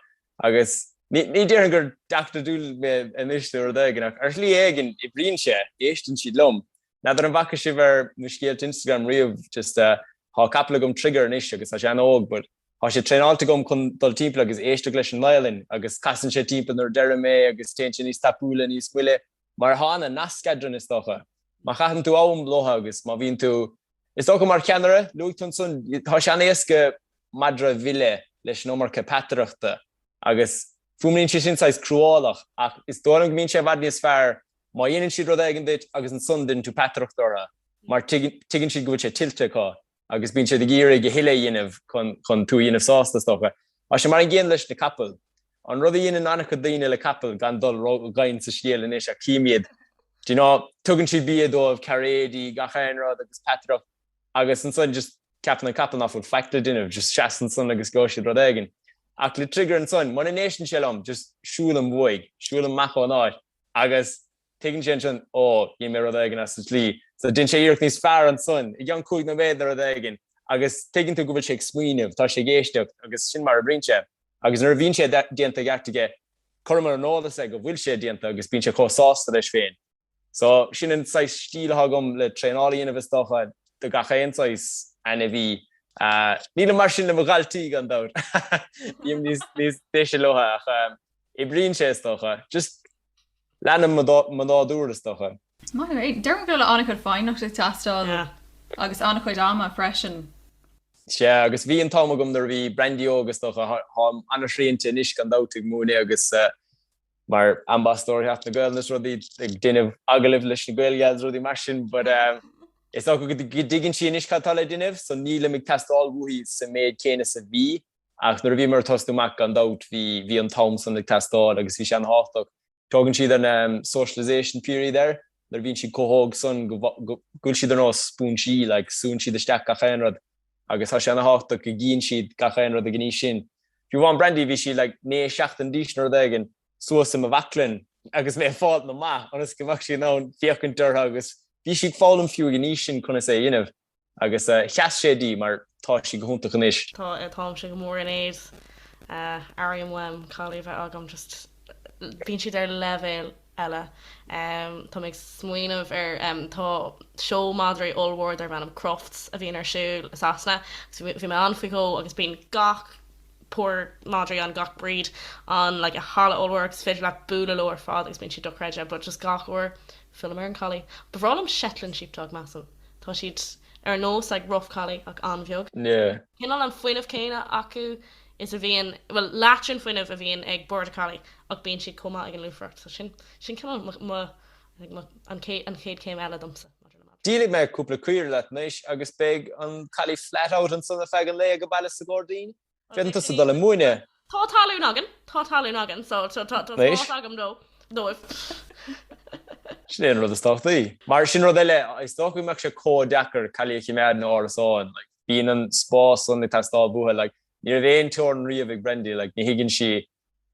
agus ní, ní déarfainn gur Doctor Dolittle mé anois nó rud éigin ach ar shlí éigin oibríonn sé, éisteann siad liom N'fheadar an bhfaca sibh ar mo scéalta Instagram riamh, just tá capall agam Trigger anois agus tá sé an-óg but tá sé traenáilte agam chun dul timpeall agus éisteacht leis an violin agus casann sé timpeall nuair a deirim é agus téann sé níos tapúla, níos moille mar atá ana-nasc eadrainn is dócha. Má chaitheann tú am leo agus má bhíonn tú, is dócha mar cheannaire, luaigh tú ansan, tá sé an-éasca madra a mhilleadh leis an iomarca peataireachta agus fuaimníonn sé sin saghas cruálach ach is dóigh liom go mbíonn sé i bhfad níos fearr má dhéanann siad rud éigin duit agus ansan deineann tú peataireacht orthu mar tuigeann siad go bhfuil sé tuillte acu agus bíonn siad ag iarraidh a thuilleadh a dhéanamh chun tú a dhéanamh sásta, is dócha. Tá sé mar an gcéanna leis na capaill. An rud a dhéanann an-chuid daoine le capaill, gan dul ró-dhoimhin sa scéal anois, ach tchím iad, do you know, tugann siad bia dóibh, cairéidí, gach aon rud agus peataireacht agus ansan just ceapann an capall nach bhfuil faic le déanamh, just seasann ansan agus gheobhaidh siad rud éigin. Ach le Trigger ansan, mura n-éisteann sé liom, just siúlaim uaidh, siúlaim amach ón áit. Agus tuigeann sé ansin, Ó, dhein mé rud éigin as an tslí. So, deineann sé iarracht níos fearr ansan, i gceann cúig nóiméad nó rud éigin. Agus tuigeann tú go bhfuil sé ag smaoineamh, tá sé ag éisteacht, agus sin mar a oibríonn sé. Agus nuair a bhíonn sé déanta i gceart aige, cuirim ar an eolas é go bhfuil sé déanta agus bíonn sé chomh sásta leis féin. So, sin an saghas stíl atá agam le traenáil a dhéanamh is dócha, do gach aon saghas ainmhí. Nílim mar sin le mo dhaltaí, gan dabht. Bím níos deise leo ach. Oibríonn sé is dócha, just leanaim mo nádúr is dócha. Is maith liom é. Déarfainn go bhfuil an-chuid foighneachta ag teastáil agus an-chuid ama freisin. Sea, agus bhí an t-am agam nuair a bhí Brandy óg is dócha. Táim an-shrianta anois gan dabht ag múineadh agus mar ambasadóir Sheachtain na Gaolainne is rudaí, ag déanamh agallaimh leis na Gael Gals agus rudaí mar sin but is dócha go dtuigeann sí anois cad atá le déanamh so nílim ag teastáil uaithi sa méid céanna is a bhí Ach nuair a bhíomar ag tosnú amach, gan dabht, bhí bhí an t-am san ag teastáil agus bhí sé ana thábhachtach. Tugann siad an socialisation period air, nuair a bhíonn siad chomh hóg san go bhfuil siad ar nós spúinsí, like, súnn siad isteach gach aon rud agus tá sé ana thábhachtach go gcíonn siad gach aon rud ag an aois sin. Fiú amháin Brandy, bhí sí like naoi seachtain d'aois nó rud éigin, suas i mo bhaclainn agus mé ag fáil na mba ionas go mbeadh sí in ann féachaint orthu agus bhí sí ag foghlaim fiú ag an aois sin conas é a dhéanamh. Agus sheas sé di, mar tá sí go hiontach anois. Tá, táimse go mór in éad. Airím uaim collie a bheith agam just, bíonn siad ar leibhéal eile. Tá mé ag smaoineamh ar, tá seó madraí ollmhór darb ainm Crufts a bhíonn ar siúl i Sasana agus bhí mé ann faoi dhó agus bíonn gach, pór madraí ann gach breed ann like i halla ollmhór agus is féidir leat bualadh leo ar fad agus bíonn siad dochreidte but just gach uair fillim ar an collie ba bhreá liom Shetland sheepdog measaim tá siad ar nós like rough collie ach an-bheag yeah cineál an fuinneamh céanna acu is a bhíonn bhuel leath den fuinneamh a bhíonn ag border collie ach bíonn siad chomh maith ag an lúfaireacht so sin sin cineál mo an chéad chéim eile domsa. Díolfaidh mé cúpla caoire leat anois agus beidh an collie flat out ansan ar feadh an lae ag an baile sa ghairdín. Féadann tusa dul ag múineadh. Tá talún againn, tá talún againn so tá spás agam dóibh. Sin é an rud is tábhachtaí. Mar sin rud eile, is dócha go mbeadh sé comh deacair collie a chimeád in árasán, like, bíonn an spás san ag teastáil uatha, like, ní raibh aon teorann riamh ag Brandy, like, ní thuigeann sí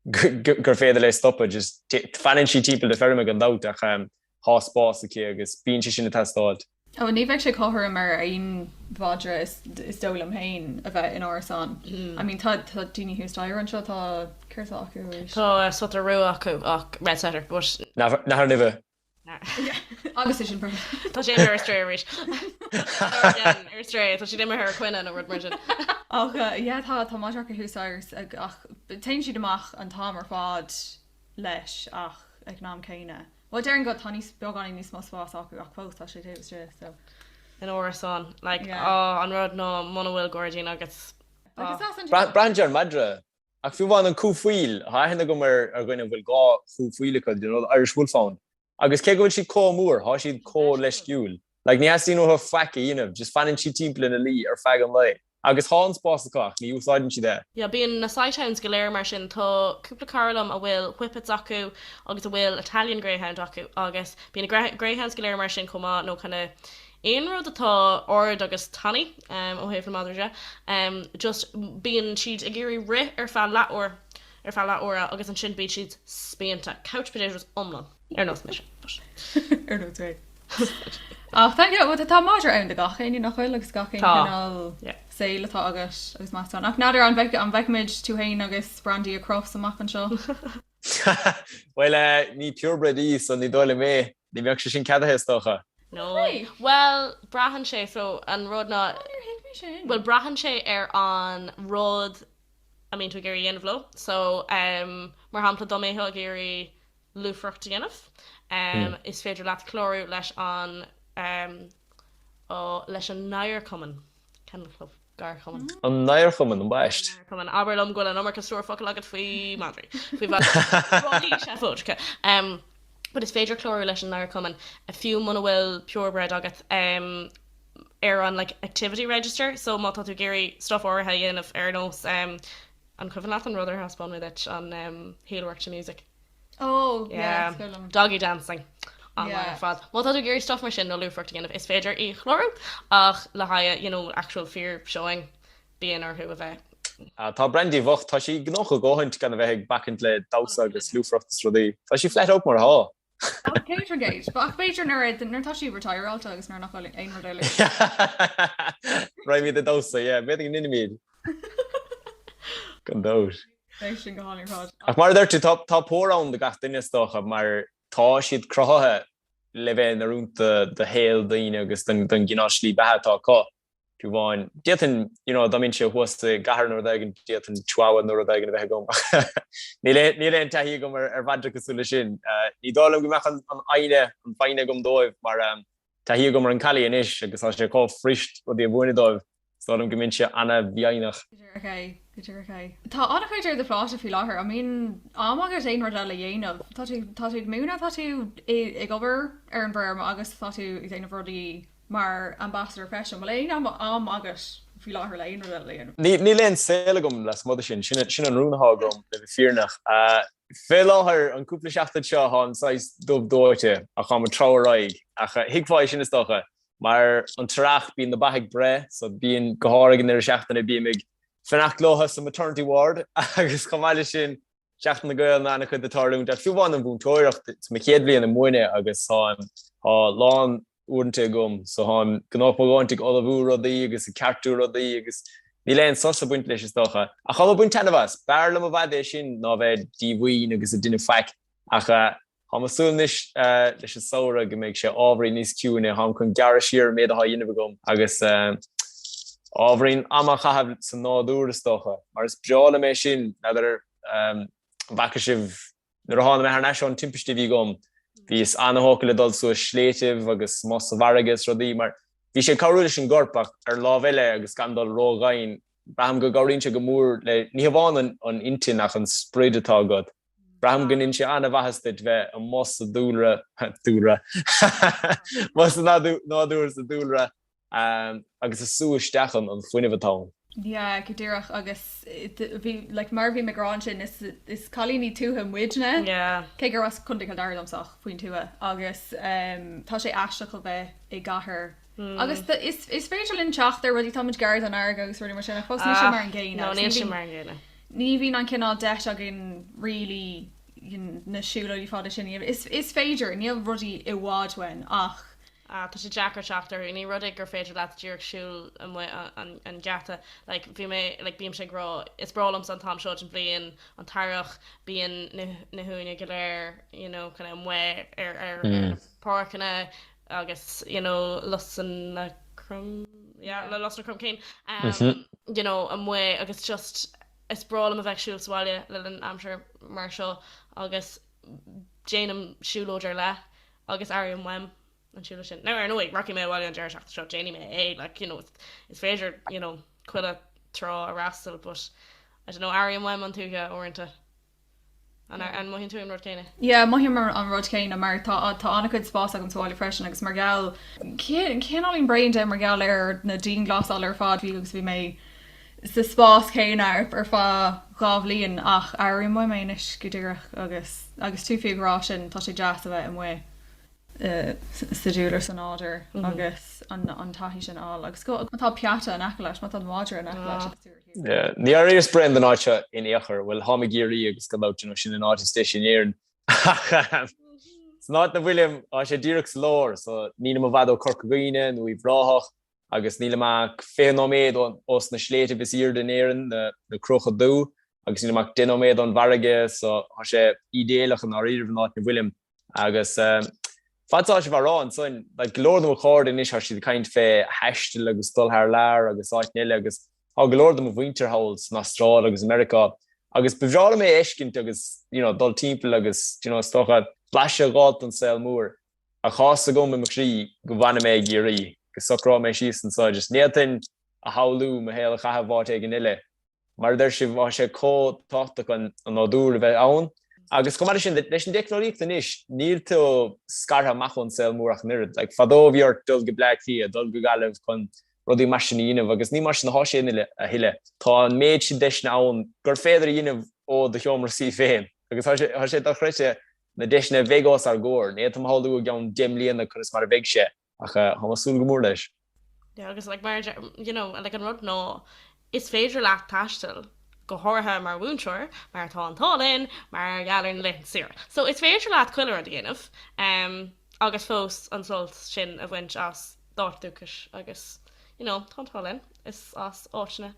gur féidir léi stopadh, just fanann sí timpeall na feirme gan dabht ach tá spás aici agus bíonn sé sin ag teastáil. Ó, ní bheidh sé cothrom ar aon mhadra, is dóigh liom féin, a bheith in árasán. I mean, tá daoine thuas staighre anseo, tá, céard atá acu arís? Tá sotar rua acu ach red setter, but. Nathair Nimhe, Agus é sin perfect. Tá sé ar strae arís. Ar strae, tá siad imithe ar coinne nó rud mar sin. Ach yeah, tá, tá madra acu thuas staighre, ach téann siad amach an t-am ar fad leis ach ag an am céanna, bhuel déarfainn go tá níos, beagáinín níos mó spás acu ach fós tá sé taobh istigh de, so. In árasán, like, Yeah. oh, an rud ná muna bhfuil gairdín agat, oh. Like, is as an. Braitheann sé ar an madra Ach fiú amháin an cú faoil, tá aithne agam ar dhuine a bhfuil dhá chú faoil acu, do you know, Irish Wolfhound. Agus cé go bhfuil siad comh mór, tá siad comh leisciúil. Like, ní theastaíonn uathu faic a dhéanamh, just fanann siad timpeall ina luí ar feadh an lae. Agus tá an spás acu ach ní úsáideann siad é. Yeah, bíonn na sighthounds go léir mar sin. Tá cúpla cara liom a bhfuil Whippets acu agus a bhfuil Italian Greyhound acu agus bíonn na greyhounds go léir mar sin chomh maith nó kinda, aon rud atá ard agus tanaí, ó thaobh na madraí de, just bíonn siad ag iarraidh rith ar feadh leathuair, ar feadh leathuaire agus ansin bíonn siad spíonta. Couch potatoes iomlán. Ar nós mise, but. Ar nós mé. Ach tá, you know, tá madra ann do gach éinne, nach bhfuil, agus gach aon chineál saoil atá agat agus más ann. Ach n'fheadar an bhfeicfimid tú fhéin agus Brandy ag Crufts amach anseo? Bhuel, ní purebred í, so ní dóigh liom é. Ní bheadh sé sin ceadaithe, is dócha. No way. Bhuel, braitheann sé, so, an rud ná. Ó, níor thuig mé sin. Bhuel, braitheann sé ar an rud a mbíonn tú ag iarraidh a dhéanamh leo. So, mar shampla, dá mbeadh tú ag iarraidh lúfaireacht a dhéanamh, is féidir leat clárú leis an, ó, leis an nGadharchumann. Kennel Club. Gadharchumann. An nGadharchumann, ambaist. Gadharchumann. Abair liom go bhfuil an iomarca stór focal agat faoi madraí. Faoi mhadraí seafóideacha. But is féidir clárú leis an nGadharchumann fiú muna bhfuil purebred agat ar an like activity register. So má tá tú ag iarraidh stuff áirithe a dhéanamh ar nós, an cuimhin leat an rud ar thaispeáin mé duit, an heel work to music? Oh, yeah, Yeah. is fearr liom. Doggy dancing online Yeah. ar fad. Má tá tú ag iarraidh stuff mar sin nó lúfaireacht a dhéanamh, is féidir í a chlárú, ach le haghaidh, you know, actual fíor-showing, bíonn orthu a bheith. Ah, tá Brandy bhocht. Tá sí gnóthach a dhóthaint gan a bheith ag bacaint le damhsa agus lúfaireacht is rudaí. Tá sí flat out mar athá. Ach Patrongate. Ach b'fhéidir nuair a, nuair atá sí retireáilte agus nuair nach bhfuil aon rud eile ag baint. Raghaimid ag damhsa, yeah, b'fhéidir go ndéanfaimid. Gan dabht. Ach mar a dúirt tú, tá pór ann do gach duine is dócha mar tá siad cruthaithe le bheith in oiriúint do shaol daoine agus don gcineál slí beatha atá acu. Fiú amháin, d'fhéadfainn, you know, dá mbeinnse thuas i gcathair nó rud éigin, d'fhéadfainn Chihuahua nó rud éigin a bheith agam. Níl aon taithí agam ar mhadraí cosúil leis sin. Ní dóigh liom go mbeadh an fhoighne, an fhoighne agam dóibh mar, Taithí agam ar an collie anois agus tá sé chomh fuirist rudaí a mhúineadh dóibh, is dóigh liom go mbeinnse an-mhífhoighneach. Go dearfach é, go dearfach é. Tá an-chuid ar do phlátasa faoi láthair, an mbíonn am agat aon rud eile a dhéanamh? Tá tú, tá tú ag múineadh, tá tú ag obair ar an bhfeirm agus tá tú ag déanamh rudaí mar ambassador freisin, bhfuil aon am, am agat faoi láthair le aon rud eile a dhéanamh? Níl aon saol agam lasmuigh de sin, sin, sin an rún atá agam, le bheith fírinneach. Fé láthair, an cúpla seachtain seo, táim saghas dubh dóite ach táim ag treabhadh ar aghaidh, ach thuigfeá é sin is dócha, mar an t-earrach bíonn na ba ag breith, so bíonn, go háirithe ag an ndeireadh seachtaine, bím ag fanacht leothu sa maternity ward, agus chomh maith le sin, Seachtain na Gaelainne, an-chuid ag tarlúint, ach fiú amháin an mhúinteoireacht, is mo chéad bhliain ag múineadh agus táim, tá lán, uaireanta agam so tháim gnóthach mo dhóthaint ag ullmhú rudaí agus ag ceartú rudaí agus níl aon sos ag baint leis is dócha. Ach tháim ag baint taitneamh as, b'fhearr liom i bhfad é sin ná bheith díomhaoin agus ag déanamh faic ach tháim ag súil anois leis an samhradh go mbeidh sé ábhairín níos ciúine, tháim chun gearradh siar ar an méid atá á dhéanamh agam agus ábhairín ama a chaitheamh sa nádúr is dócha, mar is breá liom é sin, n'fheadar an bhfaca sibh. Nuair a thána mé thar n-ais ón timpiste a bhí agam, bhíos ana-thógtha le dul suas sléibhtibh agus amuigh sa bhfarraige is rudaí, mar bhí sé ag cabhrú leis an gcorp, ach ar an lámh eile, agus gan dul ró-dhoimhin, braithim go gcabhraíonn sé go mór le ní hamháin an intinn ach an sprid atá agat. Braithim go ndéanann sé ana-mhaitheas duit bheith amuigh sa dúlra, dúlra? amuigh sa nádúr, sa dúlra. agus ag sú isteach an an fuinneamh atá ann. Yeah, go díreach, agus bhí, like, mar a bhí mé ag rá ansin, is, is cailíní tuaithe muidne, cé gur as Co. Chill Dara domsa ach faoin tuaith, agus tá sé aisteach a bheith i gcathair, agus do, is, is féidir linn teacht ar rudaí, táimid gar don fharraige agus rudaí mar sin, ach fós níl sé mar an gcéanna, agus níl sé mar an gcéanna, ní bhíonn an cineál deis againn really, na siúlóidí fada sin, is, is féidir, níl rudaí i bhfad uainn, ach. Tá sé deacair teacht orthu. Ní rud é gur féidir leat díreach siúl amuigh an geata. Like, bhí mé, like, bímse ag rá, is breá liomsa an t-am seo den bhliain, an t-earrach, bíonn na huaine go léir, you know, kind of amuigh ar na páirceanna agus, you know, lusanna crom, yeah, le lusanna cromchinn, you know, amuigh agus just is breá liom a bheith ag siúl sa bhaile le linn aimsir mar seo agus, déanaim siúlóid ar leith agus airím uaim an siúlóid sin. Now, ar ndóigh, rachaidh mé abhaile an deireadh seachtaine seo, déanfaidh mé é, like, you know, is féidir, you know, chuile trá a fhreastal, but, I don't know, airím uaim an tuaithe, uaireanta. An, an mothaíonn tú an rud céanna? Yeah, mothaím an rud céanna, mar tá, tá an-chuid spáis agam sa bhaile freisin, agus mar gheall, cineáilín bréan de, mar gheall ar na dianghlasáil ar fad, bhí, agus bhí mé. sa spás céanna ar feadh dhá bhliain ach airím uaim é anois go díreach agus agus tú fiú ag rá sin, tá sé deas a bheith amuigh sa dúlra sa nádúr agus an taithí sin a fháil agus má tá peata in aice leis, má tá an madra in aice leis. Níor éiríos bréan den áit seo in aon chor, bhuel tháim i gCiarraí agus gan dabht, you know, sin an áit is deise in Éirinn ach ahem san áit ina bhfuilim thá sé díreach sa lár so nílim i bhfad ó Corca Dhuibhne nó Uíbh Ráthach, agus nílim ach 20 nóiméad os na sléibhtibh is aoirde in Éirinn, na Cruacha Dubha, agus nílim ach 10 nóiméad ón bhfarraige so thá sé ídéalach i ndáiríribh an áit 'na bhfuilim. Agus fad is atá sibh ag rá ansoin, like, go leor de mo chairde anois thá siad ag caint fé thaisteal agus dul thar lear agus áiteanna eile agus thá go leor de mo mhuintir thall san Astráil agus i Meiriceá agus ba bhreá liom é a fheiscint agus, you know, dul timpeall agus, do you know, is dócha blaiseadh dh'fháilt den saol mór. ach tá's agam i mo chroí go bhfanfaidh mé i gCiarraí agus socróidh mé síos ansan, just n'fhéadfainn a shamhlú mo shaol a chaitheamh áit éigin eile. Mar a deir sibh, tá sé comh tábhachtach an nádúr a bheith ann. Agus chomh maith leis sin, leis an dteicneolaíocht anois, níl tú scartha amach ón saol mór ach an oiread. Like, fadó bhí ort dul go Bleá Cliath, dul go Gaillimh chun rudaí mar sin a dhéanamh agus ní mar sin atá sé a thuilleadh. Tá an méid sin deiseanna ann gur féidir a dhéanamh ó do sheomra suí féin. Agus tá sé dochreidte na deiseanna a bheidh os ár gcomhair. Ní fhéadfainn a shamhlú i gceann deich mbliana conas mar a bheidh sé, ach táim ag súil go mór leis. Yeah, agus like, mar, you know, like, an rud ná is féidir leat taisteal go háirithe mar mhúinteoir mar tá an t-ádh linn mar gheall ar na laethanta saoire. So is féidir leat chuile rud a dhéanamh um, agus fós an sult sin a bhaint as d'áit dúchais agus you know, tá an t-ádh linn is as áiteanna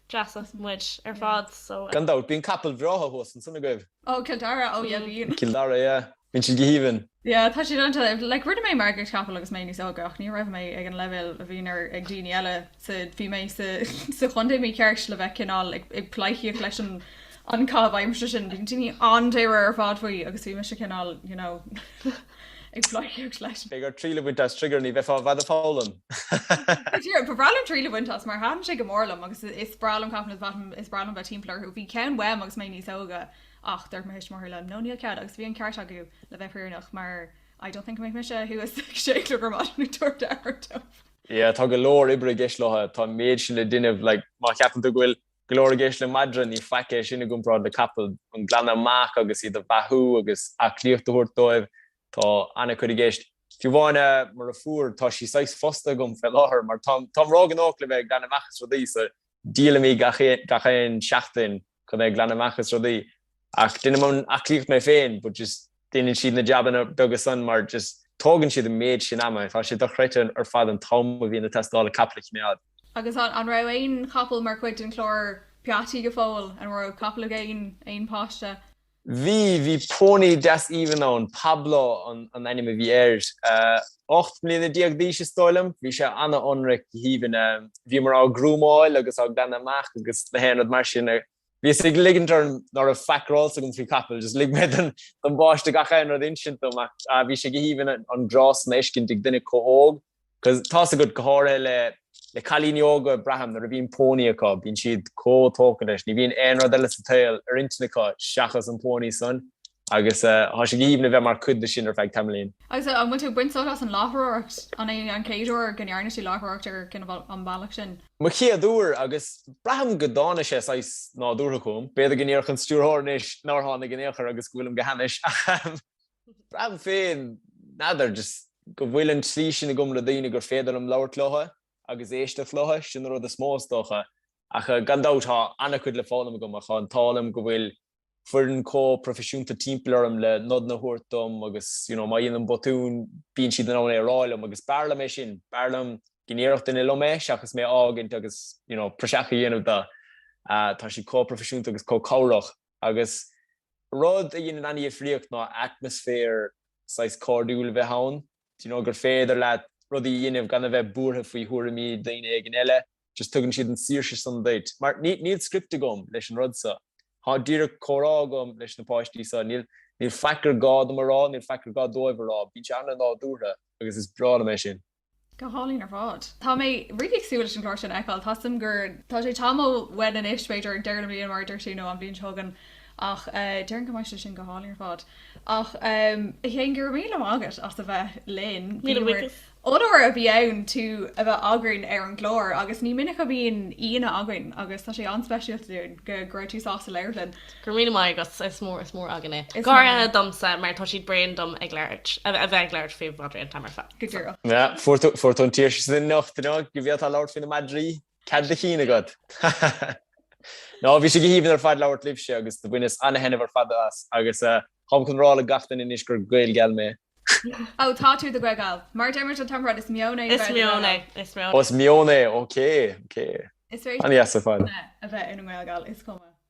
deasa muid ar fad. So, uh, Gan dabht, bíonn capaill bhreátha thuas ansan agaibh. Oh Cill Dara oh yeah bíonn. Cill Dara yeah bíonn siad go haoibhinn. Yeah tá siad iontach like rinne mé marcaíocht chapall agus mé níos óige ach ní raibh mé ag an leibhéal a bhíonn ar ag daoine eile sa bhí mé sa sa chontae mícheart le bheith cineál ag ag pleidhcíocht leis an an caitheamh aimsire sin bíonn daoine an-dáiríre ar fad faoi agus bhí mise cineál you know ag pleidhcíocht leis. Beidh ort triail a bhaint as Trigger ní bheifeá i bhfad ag foghlaim. Go deimhin, ba bhreá liom triail a bhaint as, mar thaitin sé go mór liom agus is breá liom capaill, is breá liom bheith timpeall orthu. Bhí ceann uaim agus mé níos óga ach dúirt mo thuismitheoirí liom, no níl cead agus bhí an ceart acu le bheith fírinneach mar I don't think go mbeadh mise thuas ag sé a chlog ar maidin ag tabhairt aire dó. Yeah, tá go leor oibre i gceist leo. Tá an méid sin le déanamh, like, má cheapann tú go bhfuil go leor i gceist le madra, ní faic é sin i gcomparáid le capall, an glanadh amach agus iad a bheathú agus aclaíocht a thabhairt dóibh. Tá ana-chuid i gceist. Fiú amháin mo dheirfiúr, tá sí saghas fostaithe agam fé láthair, mar táim ró-ghnóthach le bheith ag glanadh amach is rudaí, so díolaim í gach aon seachtain chun é a ghlanadh amach is rudaí. Ach déanaim an aclaíocht mé féin, but just déanann siad na jabanna beaga san mar just tógann siad an méid sin ama, tá sé dochreidte ar fad an t-am a bhíonn ag teastáil le capall a choimeád. Agus an, an raibh aon chapall mar chuid den chlár peataí go fóill, an raibh capall ag aon, aon pháiste? Bhí, bhí pónaí deas aoibhinn ann, Pablo an, an ainm a bhí air, ocht mbliana déag d'aois is dóigh liom, bhí sé ana-ionraic, go haoibhinn, bhíomar á ghrúmáil agus á glanadh amach agus na haon rud mar sin. Bhíos ag ligint orm ná raibh faic ar eolas agam faoi chapaill, just lig mé don bpáiste gach aon rud a insint dom ach bhí sé go haoibhinn an grá san a fheiscint ag duine chomh hóg cos tá's agat go háirithe le le cailíní óga braithim nuair a bhíonn pónaí acu, bíonn siad chomh tógtha leis, ní bhíonn aon rud eile sa tsaol ar intinn acu seachas an pónaí san. Agus thá sé go haoibhinn a bheith mar chuid de sin ar feadh tamaillín. Agus an bhfuil tú ag baint sult as an láithreoireacht? An é an chéad uair go ndearna tú láithreoireacht ar an bhealach sin? Mo chéad uair, agus braithim go dtána sé saghas nádúrtha chugam. B'fhéidir go ndéarfadh an stiúrthóir anois nár thána in aon chor agus go bhfuilim go hainnis, ach braithim féin, n'fheadar, just go bhfuil an slí sin agam le daoine gur féidir liom labhairt leotha agus éisteacht leotha, sin an rud is mó, is dócha. Ach gan dabht, thá an-chuid le foghlaim agam, ach thá an t-ádh liom go bhfuil foireann chomh proifisiúnta timpeall orm le nod a thabhairt dom agus you know má dhéanaim botún bíonn siad in ann é a rá liom agus b'fhearr liom é sin, b'fhearr liom go ndéarfadh duine liom é seachas mé a fhágaint agus you know praiseach a dhéanamh de. Tá siad chomh proifisiúnta agus chomh cabhrach agus rud a dhéanann ana-dhifríocht ná atmaisféar saghas cairdiúil a bheith ann. you know, gur féidir leat rudaí a dhéanamh gan a bheith buartha faoi thuairimí daoine éigint eile, just tugann siad an saoirse san duit. Mar níl, níl script agam leis an rud seo. Tá díreach comhrá agam leis na páistí seo. Níl, níl faic ar gá dom a rá, níl faic ar gá dóibh a rá. Bíonn sé an-nádúrtha agus is breá liom é sin. Go hálainn ar fad. Tá mé really ag súil leis an gclár sin a fheiceáil. Tá a fhios agam gur, tá sé tamall uainn anois, b'fhéidir ag deireadh na bliana mar a dúirt tú nó an bhliain seo chugainn. Ach déarfainn go mbeidh sé sin go hálainn ar fad. Ach a Chéin, go raibh míle maith agat as a bheith linn. Míle maith agat. Onóir a bhí ann tú a bheith againn ar an gclár agus ní minic a bhíonn aíonna againn agus tá sé an-speisialta dúinn go raibh tú sásta labhairt linn. Go raibh míle maith agat, is mór is mór againn é. Is mór. Go háirithe domsa mar tá siad bréan dom ag labhairt, a bheith ag labhairt faoi mhadraí an t-am ar fad. Go díreach. Fuair tú an tsaoirse sin anocht, go bhféadfá labhairt faoi na madraí. Cead do chinn agat? Ha ha ha! No, bhí sé go haoibhinn ar fad labhairt libhse agus do bhaineas ana-thaitneamh ar fad as agus táim chun rá le gach duine anois gur Gael geal mé. Ó, tá tú i do Ghael geal. Mar a deir muid an t-am ar fad, is meon é a bheith ina nGael geal. Is meon é, is meon é. Ó, is meon é, ok, ok. Is féidir leat a bheith ina nGael geal, is cuma.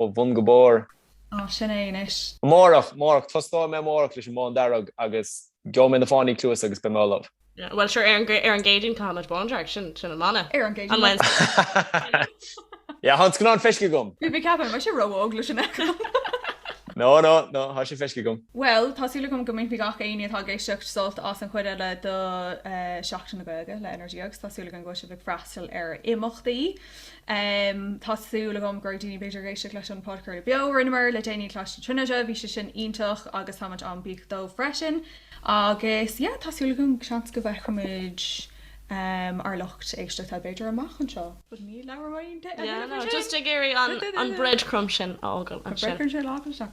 ó bhun go barr. Á, sin é anois. Amárach, amárach, tosnóidh mé amárach leis an mbándearg agus gheobhaidh mé na fáinní cluasa agus beidh mé ullamh. Yeah, well sure, ar an gCéadaoin caithfimid bándearg, sin an mana. Ar an gCéadaoin. On Wednesday. Yeah, thá scannán feiscithe agam. Bhí mé ag ceapadh go raibh sé ró-óg leis sin a fheiceáil. No, no, no, thá sé feiscithe agam. Bhuel, tá súil agam go mbainfidh gach éinne atá ag éisteacht sult as an chuid eile de Sheachtain na Gaeilge le Energia agus tá súil againn go bhfuil sibh ag freastal ar imeachtaí. Tá súil agam go raibh daoine b'fhéidir ag éisteacht leis an podchraoladh beo a rinneamar le déanaí i gColáiste na Tríonóide, bhí sé sin iontach agus táimid an-bhuíoch dóibh freisin. Agus yeah, tá súil agam seans go bhfeicfimid ár lucht éisteachta b'fhéidir amach anseo. But ní labhróimid de. Yeah, no, just ag iarraidh an breadcrumb sin a fhágáil ansin.